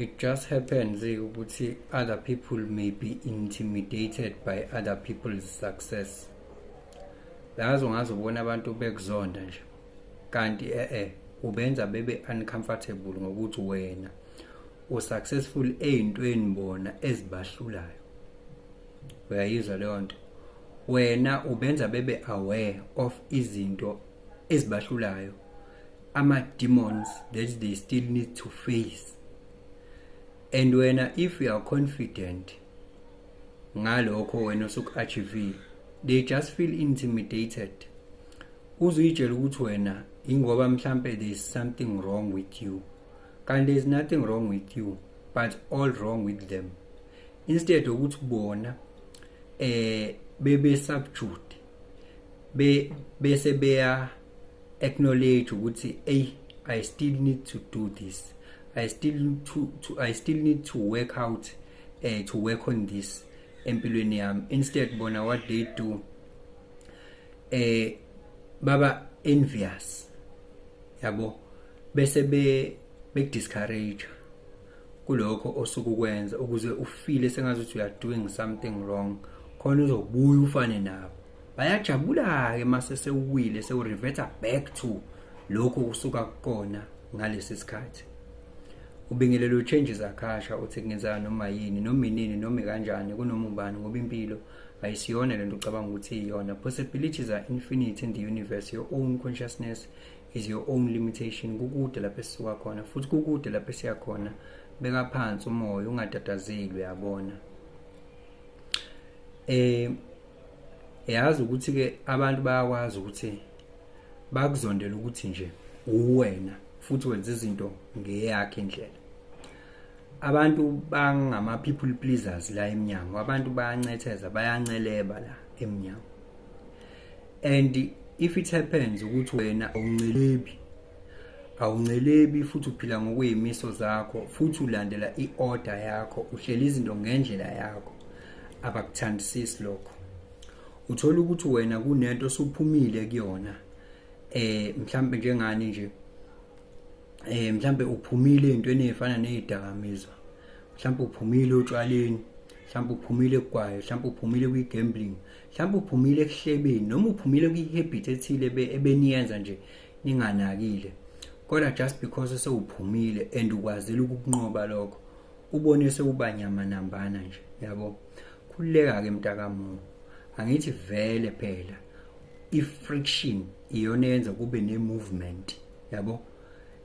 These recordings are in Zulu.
It just happens eh, ukuthi other people may be intimidated by other people's success. Lazo ngazobona abantu bekuzonda nje. Kanti eh eh ubenza bebe uncomfortable ngokuthi wena u successful ezintweni bona ezibahlulayo. Uyayizwa leyo nto. Wena ubenza bebe aware of izinto ezibahlulayo ama-demons that they still need to face and wena if you are confident ngalokho wena osuku-achivile they just feel intimidated uzuyitshela ukuthi wena ingoba mhlampe there is something wrong with you kanti there is nothing wrong with you but all wrong with them instead ukuthi bona eh bebe subject be bese beya acknowledge ukuthi ey i still need to do this i still need to, to i still need to work out uh, to work on this empilweni yami instead bona what they do eh baba envious yabo bese be bekudiscourage kulokho osukukwenza ukuze ufile sengazi ukuthi you are doing something wrong khona uzobuya ufane nabo bayajabula-ke uma sesewuwile sewurivetha back to lokhu kusuka kukona ngalesi sikhathi ubingelela utshenji zakhasha uthi kungenzeka noma yini noma inini noma kanjani kunoma ubani ngoba impilo ayisiyona lento ucabanga ukuthi iyona possibilities are infinite in the universe your own consciousness is your own limitation kukude lapho esisuka khona futhi kukude lapho esiya khona beka phansi umoya ungatatazeli uyabona eh yazi ukuthi ke abantu bayakwazi ukuthi bakuzondela ukuthi nje uwena futhi wenza izinto ngeyakhe indlela abantu bangama people pleasers la eminyango abantu bayancetheza bayanceleba la eminyango and if it happens ukuthi wena awuncelebi awuncelebi futhi uphila ngokweyimiso zakho futhi ulandela i-order yakho uhlela izinto ngendlela yakho abakuthandisisi lokho uthola ukuthi wena kunento osuphumile kuyona eh mhlambe njengani nje eh mhlambe uphumile entweni efana nezidakamizwa mhlambe uphumile otshwaleni mhlambe uphumile kwayo mhlambe uphumile kwi gambling mhlambe uphumile ekuhlebeni noma uphumile kwi habit ethile ebeniyenza nje ninganakile kodwa just because sewuphumile and ukwazile ukukunqoba lokho ubone sewubanyama nambana nje yabo khululeka ke mntakamuntu angithi vele phela i-friction iyona yenza kube ne-movement yabo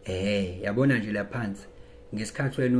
eh yabona nje laphansi ngesikhathi wena